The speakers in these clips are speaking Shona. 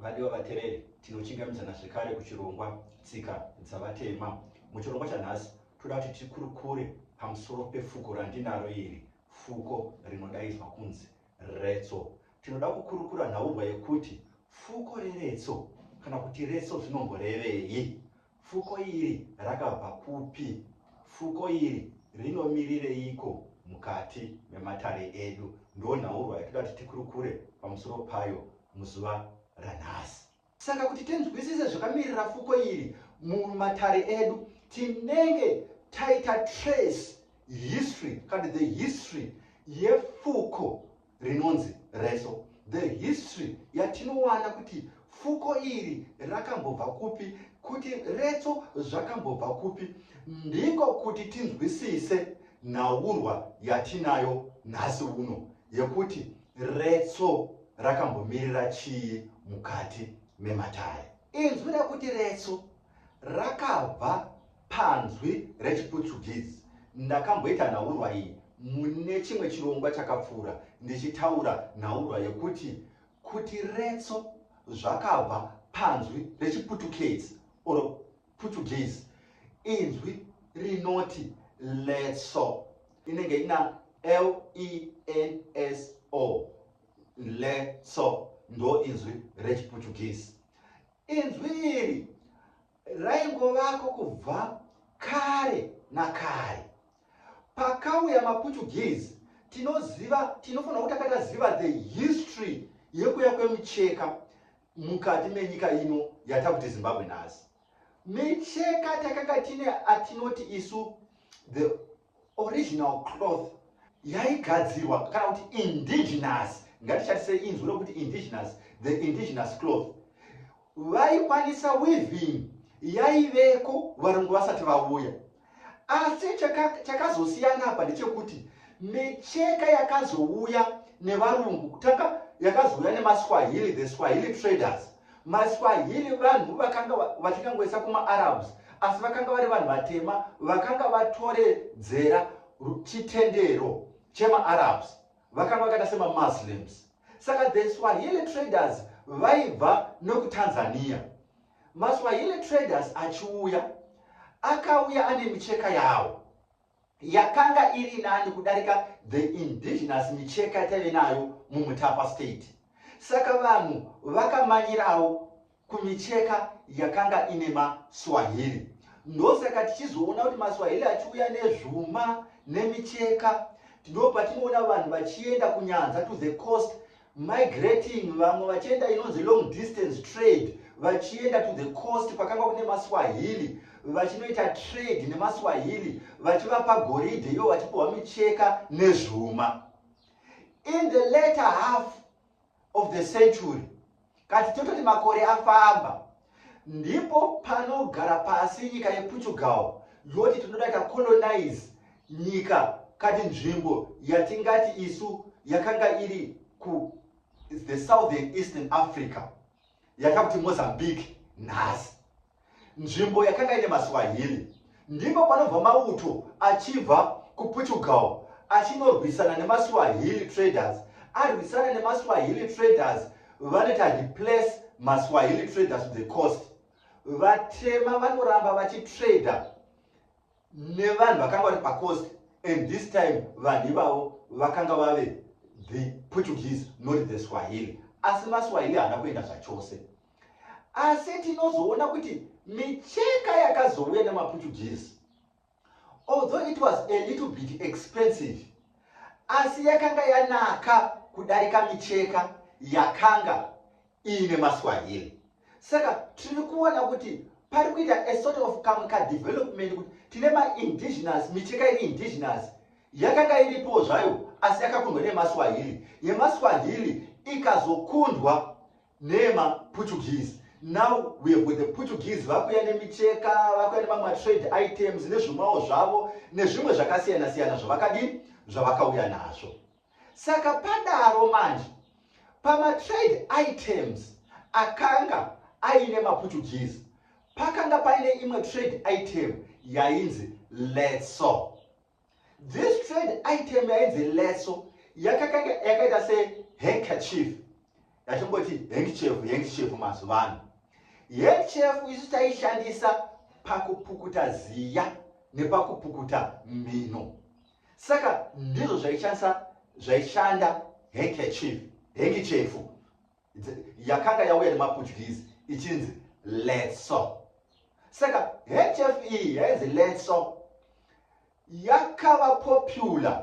Vadiwa vatereri, tinochingamidzana zvekare kuchirongwa Tsika dzaVatema. Muchirongwa chanhasi, toda kuti tikurukure pamusoro pefuko randinaro iri, fuko rinodaidzwa kunzi retso. Tinoda kukurukura nhaurwa yekuti fuko reretso kana kuti retso zvinomborevei. Fuko iri rakabva kupi? Fuko iri rinomirireiko mukati mematare edu? Ndo nhaurwa yatoda kuti tikurukure pamusoro payo muzuva ranhasi. Saka kuti tinzwisise zvakamirira fuko iri mumatare edu, tinenge taita trace history, kana the history yefuko rinonzi reso the history yatinowana kuti fuko iri rakambobva kupi kuti retso zvakambobva kupi ndiko kuti tinzwisise nhaurwa yatinayo nhasi uno yekuti retso rakambomirira chii mukati mematare inzwi rekuti retso rakabva panzwi rechiPutsugezi. Ndakamboita nhaurwa iyi mune chimwe chirongwa chakapfuura ndichitaura nhaurwa yekuti kuti retso zvakabva panzwi rechiPutukezi or Putsugezi. Inzwi rinoti letso inenge ina lenso letso ndo inzwi rechiPutukezi. Inzwi iri raingovako kubva kare nakare. Pakauya maPutuguese tinoziva tinofanira kuti tanga taziva the history yekuya kwemucheka mukati menyika ino yatakuti Zimbabwe nhasi. Micheka takanga tine atinoti isu the Original cloth yaigadzirwa kana kuti indigenous ngatishandise inzwi rokuti indigenous the indigenous cloth vaikwanisa weaving yaiveko varungu vasati vauya asi chakazosiyana apa ndechekuti micheka yakazouya nevarungu kutanga yakazouya nemaswahili the swahili traders MaSwahili vanhu vakanga vachinyangoisa kumaArabs asi vakanga vari vanhu vatema vakanga vatoredzera chitendero chemaArabs vakanga vakaita semaMuslims saka the Swahili traders vaibva nokuTanzania maSwahili traders achiuya akauya ane micheka yawo yakanga iri nani kudarika the indigenous micheka yataive nayo mumutapa state saka vanhu vakamanyirawo kumicheka yakanga ine maswahili ndosaka tichizoona kuti maswahili achiuya nezvuma nemicheka ndopatinoona vanhu vachienda kunyanza to the coast migrating vamwe vachienda inonzi long distance trade vachienda to the coast kwakanga kune maswahili vachinoita trade nemaswahili vachivapa goridhe ivo vachipiwa micheka nezvuma in the later half of the century Kati tototi makore afamba, ndipo panogara pasi nyika yePortugal yoti tinoda tacolonize nyika kati nzvimbo yatingati isu yakanga iri ku the southern eastern africa yatakuti mozambique nhasi nzvimbo yakanga ine maswahili ndipo panobva mauto achibva kuportugal achinorwisana nemaswahili traders arwisana nemaswahili traders vanoita replace maswahili traders the cost vatema vanoramba vachitrader nevanhu vakanga vari pacost and this time vanhu ivavo vakanga vave the portuguese not the swahili asi maswahili haana kuenda zvachose asi tinozoona kuti micheka yakazouya nemaportuguese although it was a little bit expensive asi yakanga yanaka kudarika micheka yakanga iine maswahili saka tiri kuona kuti pari kuita a sort of kamwe kadevelopment kuti tine maindigenous micheka iri indigenous yakanga iripo zvayo asi yakakundwa nemaswahili yemaswahili ikazokundwa nema Portuguese now we have got the Portuguese vakuya nemicheka vakuya nemamwe trade items nezvimwawo zvavo nezvimwe zvakasiyana siyana zvavakadii zvavakauya nazvo saka padaro manje pamatrade items akanga aine maportuguese pakanga paine imwe trade item yainzi letso This trade item yainzi leso yakakanga yakaita se handkerchief yatongoti handkerchief handkerchief mazuva ano handkerchief isu taishandisa pakupukuta ziya nepakupukuta mhino saka ndizvo zvaishandisa zvaishanda handkerchief handkerchief yakanga yauya nemaputyizi ichinzi letso saka hf iyi e yainzi letso yakava popular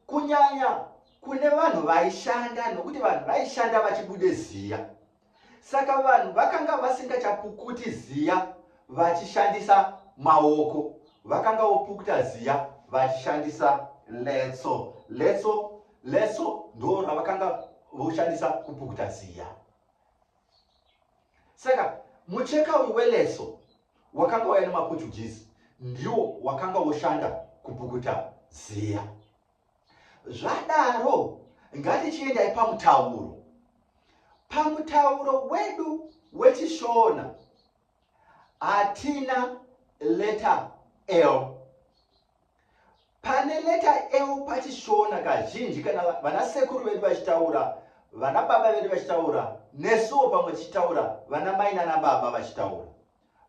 kunyanya kune vanhu vaishanda nokuti vanhu vaishanda vachibude ziya saka vanhu vakanga vasingachapukuti ziya vachishandisa maoko vakanga vopukuta ziya vachishandisa letso letso Leso ndoo ravakanga voshandisa kupukuta ziya. Saka mucheka uyu weleso wakanga waya nemaportuguese ndiwo wakanga woshanda kupukuta ziya. Zvadaro ngatichiendai pamutauro. Pamutauro wedu wechishona hatina leta l Pane leta eu pachishona kazhinji kana vana sekuru vedu vachitaura, vana baba vedu vachitaura, nesuwo pamwe tichitaura, vana mai nana baba vachitaura.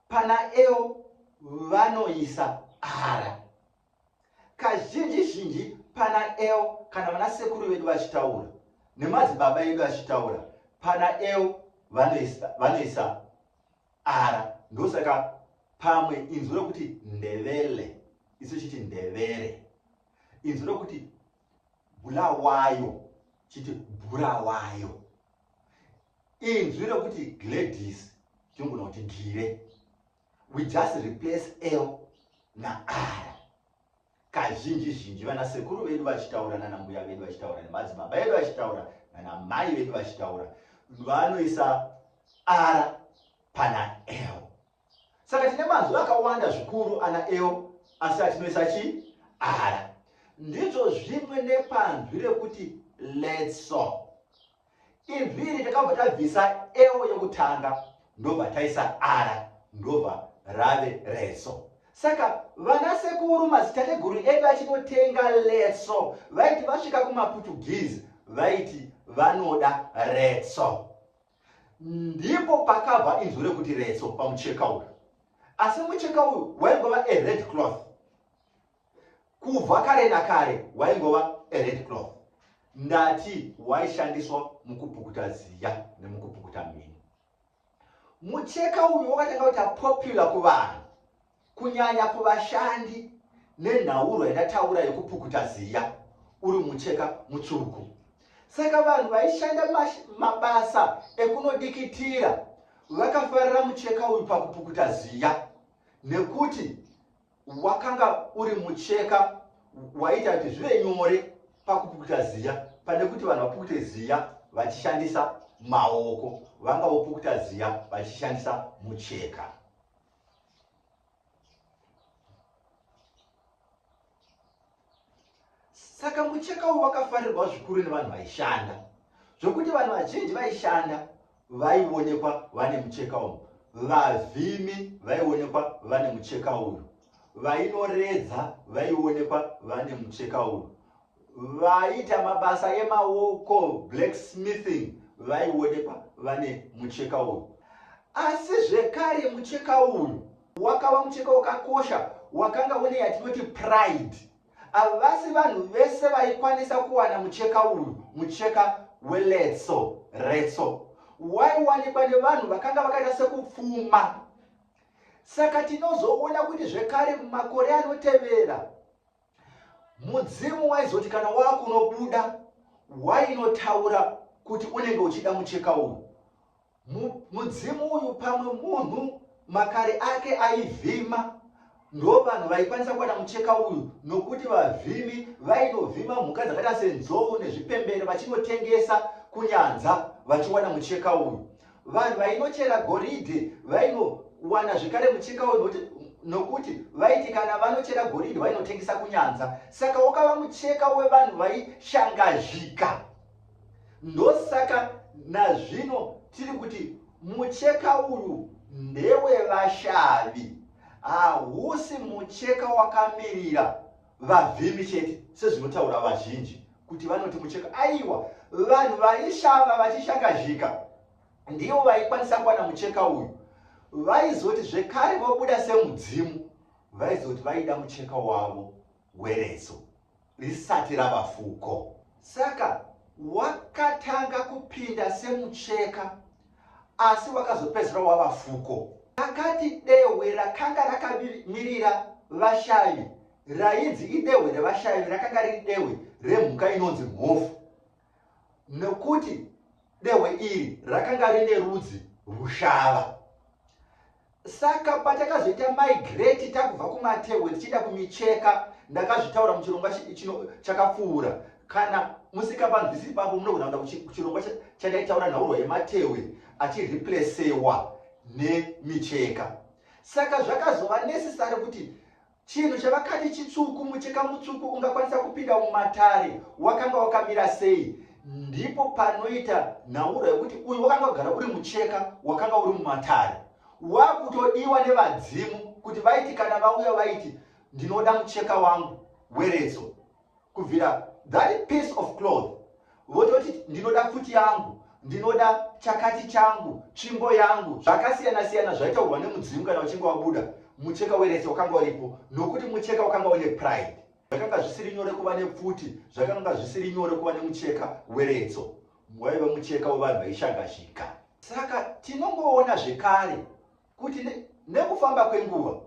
Pana eu vanoisa ara. Kazhinji zhinji pana eu kana vana sekuru vedu vachitaura nemadzibaba edu achitaura, pana eu vanoisa, vanoisa R, ndosaka pamwe inzwi rokuti ndevele isu chiti ndevere, inzwi rokuti bulawayo chiti bulawayo, inzwi rokuti gladys tinogona kuti gire. We just replace L na R. Kazhinji zhinji vana sekuru vedu vachitaura nana mbuya vedu vachitaura nemadzibaba edu vachitaura nana mai vedu vachitaura vanoisa ara pana eo. Saka tine mazwi akawanda zvikuru ana eo asi atinoisa chi ara. Ndizvo zvimwe nepanzwi rekuti letso. Izwi iri takabva tabvisa eo yekutanga ndobva taisa ara ndobva rave reso. Saka vana sekuru mazitateguru edu achinotenga leso vaiti vasvika kumaPortuguese vaiti vanoda retso. Ndipo pakabva inzwi rekuti retso pamucheka uyu. Asi mucheka uyu waingova a red cloth. kubva kare nakare waingova red cloth ndati waishandiswa mukupukuta ziya nemukupukuta mhini mucheka uyu wakatanga kuita popular kuvanhu kunyanya kuvashandi nenhauro yandataura yekupukuta ziya uri mucheka mutsvuku saka vanhu vaishanda mabasa ekunodikitira vakafarira mucheka uyu pakupukuta ziya nekuti wakanga uri mucheka waita kuti zvive nyore pakupukuta ziya pane kuti vanhu vapukute ziya vachishandisa maoko vanga vopukuta ziya vachishandisa mucheka Saka mucheka uyu wakafarirwa zvikuru nevanhu vaishanda zvokuti vanhu vazhinji vaishanda vaionekwa vane mucheka uyu. Vavhimi vaionekwa vane mucheka uyu, vainoredza vaionekwa vane mucheka uyu, vaiita mabasa emaoko blacksmithing vaionekwa vane mucheka uyu. Asi zvekare mucheka uyu wakava mucheka wakakosha wakanga une yatinoti pride havasi vanhu vese vaikwanisa kuwana mucheka uyu mucheka weletso retso waiwanikwa nevanhu vakanga vakaita sekupfuma saka tinozoona kuti zvekare mumakore anotevera Mudzimu waizoti kana wakunobuda wainotaura kuti unenge uchida mucheka uyu. Mudzimu uyu pamwe munhu makare ake aivhima ndo vanhu vaikwanisa kuwana mucheka uyu nokuti vavhimi vainovhima mhuka dzakaita senzou nezvipembere vachinotengesa kunyanza vachiwana mucheka uyu Vanhu vainochera goridhe vainowana zvekare mucheka uyu nokuti vaiti kana vanochera goridhe vainotengesa kunyanza saka wakava mucheka wevanhu vaishangazhika ndosaka nazvino tiri kuti mucheka uyu ndewevashavi hausi mucheka wakamirira vavhimi chete sezvinotaura vazhinji kuti vanoti mucheka aiwa vanhu vaishava vachishangazhika ndivo vaikwanisa kuwana mucheka uyu vaizoti zvekare vobuda semudzimu vaizoti vaida mucheka wavo wereso risati rava fuko saka wakatanga kupinda semucheka asi wakazopedzisira wava fuko. Akati dehwe rakanga rakamirira vashavi rainzi idehwe revashavi rakanga riri dehwe remhuka inonzi mhofu nokuti dehwe iri rakanga rine rudzi rushava. Saka patakazoita migrate takubva kumatehwe tichienda kumicheka, ndakazvitaura muchirongwa chakapfuura. Kana musingapanzwisisi ipapo munogona kuenda kuchirongwa chandaitaura nhaurwa yematehwe achireplacewa nemicheka. Saka zvakazova necessary kuti Chinhu chavakati chitsvuku, mucheka mutsvuku ungakwanisa kupinda mumatare wakanga wakamira sei? Ndipo panoita nhauro yekuti uyu wakanga wagara uri mucheka wakanga uri mumatare wakutodiwa nevadzimu kuti vaiti kana vauya vaiti ndinoda mucheka wangu weredzo kubvira that piece of cloth vototi ndinoda pfuti yangu ndinoda chakati changu tsvimbo yangu zvakasiyana siyana zvaitaurwa nemudzimu kana uchinge wabuda mucheka werese wakanga uripo nokuti mucheka wakanga une pride zvakanga zvisiri nyore kuva nepfuti zvakanga zvisiri nyore kuva nemucheka weretso waive mucheka wevanhu vaishangashika saka tinongoona zvekare kuti nekufamba kwenguva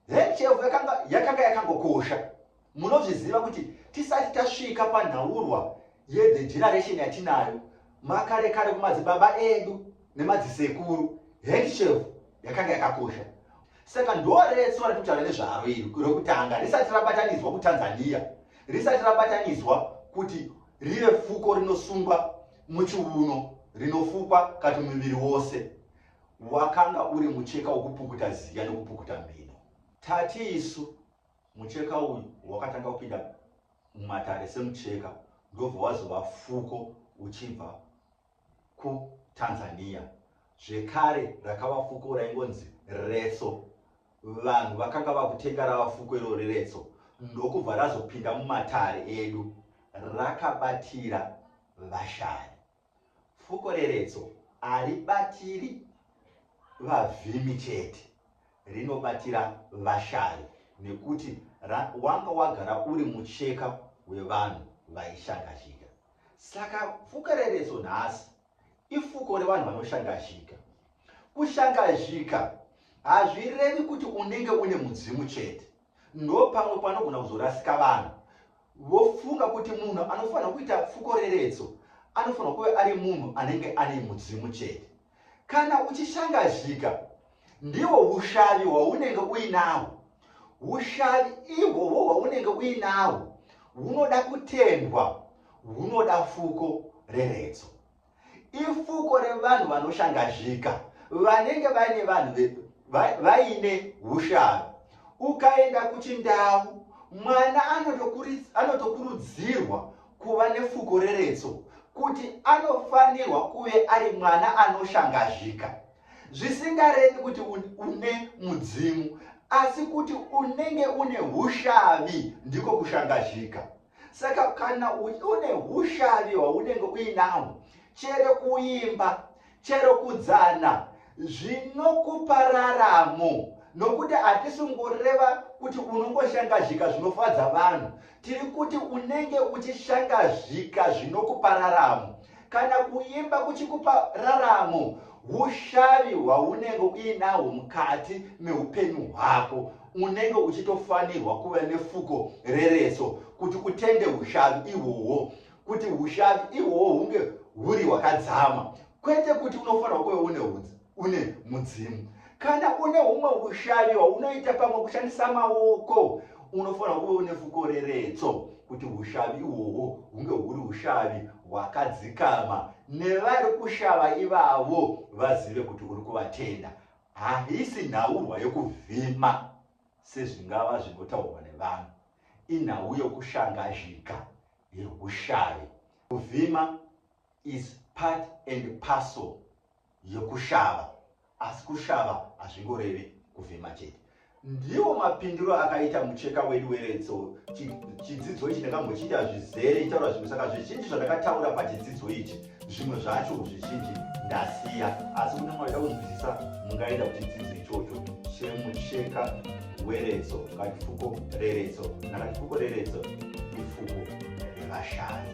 hechevu yakanga yakanga yakangokosha munozviziva kuti tisati tasvika panhaurwa yethe generation yatinayo makare kare kumadzibaba edu nemadzisekuru hechevu yakanga yakakosha saka ndoretso ratutaura nezvaro iri rokutanga risati rabatanidzwa kutanzania risati rabatanidzwa kuti rive fuko rinosungwa muchiuno rinofukwa kati muviri wose Wakanga uri mucheka wokupukuta ziya nokupukuta mhino. Tati isu, mucheka uyu wakatanga kupinda mumatare semucheka ndobva wazova fuko uchibva kutanzania zvekare rakava fuko raingonzi retso vanhu vakanga vakutenga rava fuko iro reretso ndokubva razopinda mumatare edu rakabatira vashari Fuko reretso haribatiri vavhimi chete, rinobatira vashayi nekuti wanga wagara uri mucheka wevanhu vaishangazhika. Saka fuko reretso nhasi ifuko revanhu vanoshangazhika. Kushangazhika hazvirevi kuti unenge une mudzimu chete. Ndopamwe panogona kuzorasika vanhu vofunga kuti munhu anofanira kuita fukoreredzo anofanira kuve ari munhu anenge ane mudzimu chete. Kana uchishangazhika ndiwo ushavi hwaunenge uinahwo. Ushavi ihwohwo hwaunenge uinahwo hunoda kutendwa, hunoda fuko reredzo. ifuko revanhu vanoshangazhika vanenge vaine vanhu vaine usharo ukaenda kuchindau mwana anotokurudzirwa kuva nefuko reretso kuti anofanirwa kuve ari mwana anoshangazhika zvisingarevi kuti une mudzimu asi kuti unenge une ushavi ndiko kushangazhika saka kana une ushavi hwaunenge uinahwo chero kuimba chero kudzana zvinokupa raramo nokuti hatisi kungoreva kuti unongoshangazhika zvinofadza vanhu tiri kuti unenge uchishangazhika zvinokupa raramo kana kuimba kuchikupa raramo ushavi hwaunenge uinahwo mukati meupenyu hwako unenge uchitofanirwa kuva nefuko rereso kuti utende ushavi ihwohwo kuti ushavi ihwohwo hunge huri hwakadzama kwete kuti unofanirwa kuve une udzi une mudzimu kana une umwe ushavi hwaunoita pamwe kushandisa maoko unofanira kuve une fukoreretso kuti ushavi ihwohwo hunge huri ushavi hwakadzikama nevari kushava ivavo vazive kuti uri kuvatenda haisi nhaurwa yokuvhima sezvingava zvinotaurwa nevanhu inhau yokushangazhika yeushavi kuvhima is part and parcel yekushava asi kushava hazvingoreve kuvhima chete ndiwo mapindiro akaita mucheka wedu weretso chidzidzo ichi ndakambochiita zvizere itaura zvinhu saka zvizhinji zvandakataura pachidzidzo ichi zvimwe zvacho zvizhinji ndasiya asi kune mwaida kunzwisisa mungaenda kuchidzidzo ichocho chemucheka weretso katifuko reretso nakatifuko reretso ifuko revashani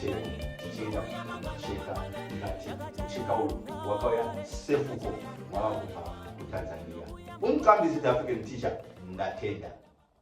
chero tichiita mucheka ungati mucheka uyu wakauya sefuko wava kubva kutanzania umqambisi the african teacher ndatenda